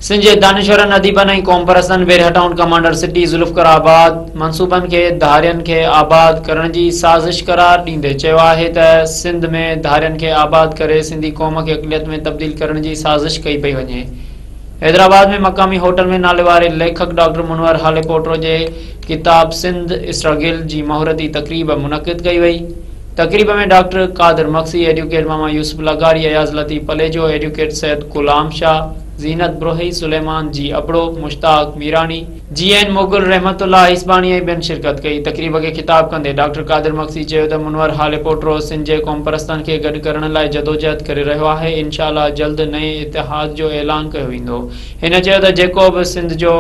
سنڌ جي دانشورن، اديبن ۽ قومپرستن وير هٽائون ڪمانڊر سٽي ذوالفقار آباد منصوبن کي ڌارين کي آباد ڪرڻ جي سازش قرار ڏيندي چيو آهي ته سنڌ ۾ ڌارين کي آباد ڪري سنڌي قوم کي اقليت ۾ تبديل ڪرڻ جي سازش ڪئي پئي وڃي. حيدرآباد ۾ مقامي هوٽل ۾ ناليواري ليکڪ ڊاڪٽر منور هاليپوٽرو جي ڪتاب سنڌ اسٽرگل جي مهورتي تقريب منعقد ڪئي وئي. تقريب ۾ ڊاڪٽر قادر مگسي، ايڊوڪيٽ ماما يوسف لغاري، Ayaz Latif Palijo, advocate Syed Ghulam Shah, Zeenat Brohi, Suleman G Abro, Mushtaq Mirani, G N Mughal, Rahmatullah Isbani ۽ ٻين شرڪت ڪئي. تقريب کي خطاب ڪندي ڊاڪٽر قادر مگسي چيو ته منور هاليپوٽرو سنڌ جي قومپرستن کي گڏ ڪرڻ لاء جدوجهد ڪري رهيو آهي، انشاء الله جلد نئين اتحاد جو اعلان ڪيو ويندو. هن چيو ته جيڪو به سنڌ جو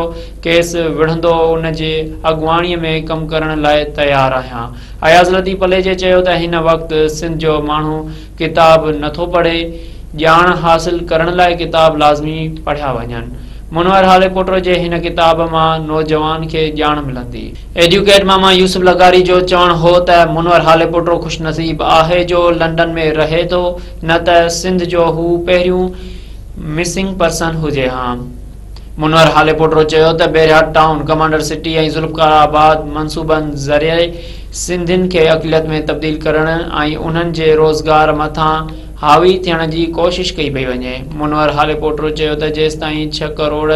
ڪيس وڙهندو ان جي اڳواڻي ۾ ڪم ڪرڻ لاء تيار آهيان. اياز لطيف پليجي چيو ته هن وقت سنڌ جو ماڻهو ڪتاب نٿو پڙهي، ڄاڻ حاصل ڪرڻ لاء ڪتاب لازمي پڙهيا وڃن، منور هاليڪوٽر جي هن ڪتاب مان نوجوان کي ڄاڻ ملندي. ايڊيوڪيٽ ماما يوسف لغاري جو چوڻ هو ته منور هاليڪوٽر خوش نصيب آهي جو لنڊن ۾ رهي ٿو نه ته سنڌ جو هو پهريون مسنگ پرسن هجي ها. منور هاليپوٽرو چيو ته Bahria town, commander city ۽ Zulfiqarabad منصوبن ذريعي سنڌين کي اقليت ۾ تبديل ڪرڻ ۽ انهن جي روزگار مٿان حاوي ٿيڻ جي ڪوشش ڪئي پئي وڃي. منور هاليپوٽرو چيو ته جيستائين ڇهه ڪروڙ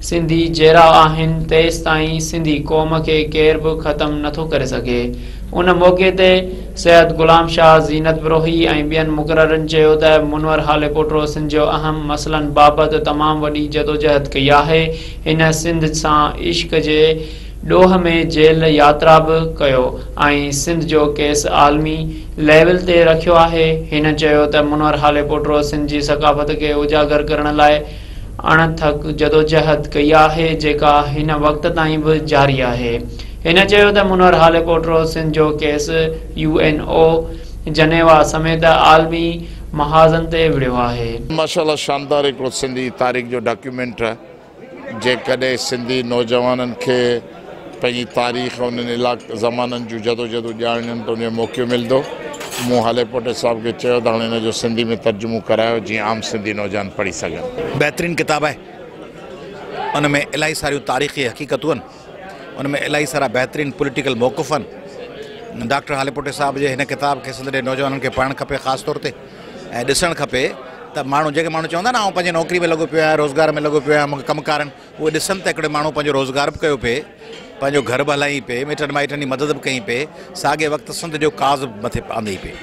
سنڌي جيئرا آهن تيستائين سنڌي قوم کي ڪير به ختم نٿو ڪري سگهي. ان موقعي تي. سيد غلام شاهه، زينت بروهي ۽ ٻين مقررن چيو ته منور هاليڪوٽرو سنڌ جو اهم مسئلن بابت تمام وڏي جدوجهد ڪئي آهي. هن سنڌ سان عشق جي ڏوهه ۾ جيل ياترا به ڪيو ۽ سنڌ جو ڪيس عالمي ليول تي رکيو آهي. هن چيو ته منور هاليڪوٽرو سنڌ جي ثقافت کي اجاگر ڪرڻ لاء اڻ ٿڪ جدوجهد ڪئي آهي جيڪا هن وقت تائين به جاري آهي. هن چيو ته منور هالي پوٽرو سنڌ جو case U N O, Geneva سميت عالمي محاذن تي وڙهيو آهي. ماشاءالله شاندار هڪڙو سنڌي تاريخ جو ڊاڪيومينٽ جيڪڏهن سنڌي نوجوانن کي. پنهنجي تاريخ انهن علائقن زمانن جون جدوجهدون ڄاڻڻ تي ان جو موقعو ملندو. مون هاليپوٽي صاحب کي چيو ته هاڻي ان جو سنڌي ۾ ترجمو ڪرايو جيئن عام سنڌي نوجوان پڙهي سگهن. بهترين ڪتاب آهي ان ۾ الائي ساريون تاريخي حقيقتون آهن ان ۾ الائي سارا بهترين پوليٽيڪل موقف آهن ڊاڪٽر هاليپوٽي صاحب جي هن ڪتاب کي سنڌ جي نوجوانن کي پڙهڻ کپي خاص طور تي ۽ ڏسڻ کپي ته ماڻهو جيڪي ماڻهو چوندا آهن نه آئون پنهنجي نوڪري ۾ لڳو پيو آهيان روزگار ۾ لڳو پيو آهيان مون کي ڪم ڪار آهن اهي ڏسن ته هڪڙو ماڻهو پنهنجو روزگار به ڪيو پئي، پنهنجو گهر به هلائين پئي، مٽن مائٽن جي مدد به ڪئين پئي، ساڳئي وقت سنڌ جو ڪاز به مٿي آندئين پئي.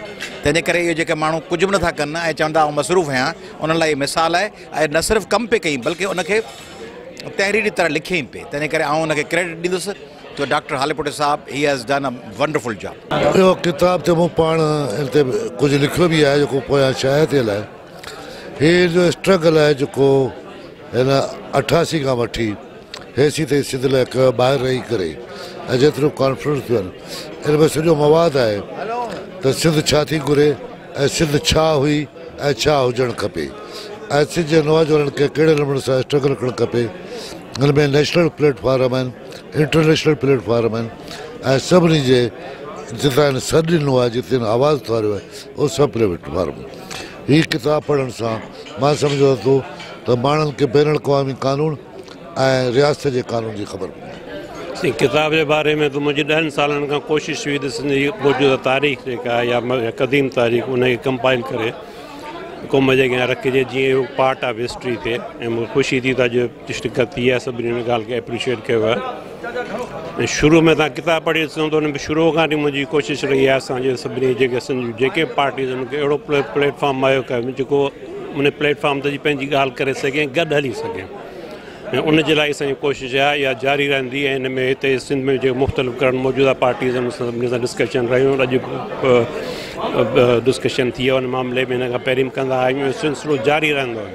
تنهن جي ڪري اهي جيڪي ماڻهو ڪجهه به نٿا ڪن ۽ چون ٿا آئون مصروف هيان، انهن لاء هي مثال آهي. اهي نه صرف ڪم پئي ڪيئين بلڪه ان کي تحريري طرح لکيئين پئي. تنهن جي ڪري آئون ان کي ڪريڊٽ ڏيندس ته ڊاڪٽر هاليپوٽي صاحب he has done a wonderful job. اهو ڪتاب ته مون پاڻ ان تي ڪجهه لکيو به آهي جيڪو پويان شايع ٿيل آهي. هي جو اسٽرگل آهي جيڪو هن اٺاسي کان وٺي هيسي تائين سنڌ لاء ڪيو آهي، ٻاهر رهي ڪري ۽ جيتريون ڪانفرنس ٿيون آهن ان ۾ سڄو مواد آهي ته سنڌ ڇا ٿي گهري ۽ سنڌ ڇا هئي ۽ ڇا هجڻ کپي ۽ سنڌ جي نواجوانن کي ڪهڙي نموني سان اسٽرگل ڪرڻ کپي ان ۾ نيشنل پليٽ فارم آهن انٽرنيشنل پليٽ فارم آهن ۽ سڀني جي جتان هن سڏ ڏنو آهي جتي هن آواز اٿاريو آهي اهو سڀ پليٽ فارم هي ڪتاب پڙهڻ سان مان سمجهيو ٿو ته ماڻهن کي بين الاقوامي قانون ۽ رياست جي قانون جي خبر پوندي. سائين ڪتاب جي باري ۾ ته منهنجي ڏهن سالن کان ڪوشش هئي ته سنڌ جي موجوده تاريخ جيڪا آهي يا قديم تاريخ ان کي ڪمپائل ڪري قوم جي اڳيان رکجي جيئن هو پارٽ آف هسٽري ٿئي ۽ مون کي خوشي ٿي ته اڄ شرڪت ٿي آهي سڀني ان ڳالهه کي اپريشيئيٽ ڪيو آهي ۽ شروع ۾ تان ڪتاب پڙهي ڏسو ته ان ۾ شروع کان وٺي منهنجي ڪوشش رهي آهي اسان جي سڀني جيڪي سنڌ جيڪي پارٽيز ان کي اهڙو پليٽ فارم مهيو ڪيو جيڪو ان پليٽ فارم تي پنهنجي ڳالهه ڪري سگهي ۽ گڏ هلي سگهي ۽ ان جي لاء اسان ڪوشش آهي اها جاري رهندي ۽ ان ۾ هتي سنڌ ۾ جيڪي مختلف ڪرن موجوده پارٽيز ان سان سڀني سان ڊسڪشن رهيو اڄ ڊسڪشن ٿي آهي ان معاملي ۾ ان کان پهرين به ڪندا آيا آهيون سلسلو جاري رهندو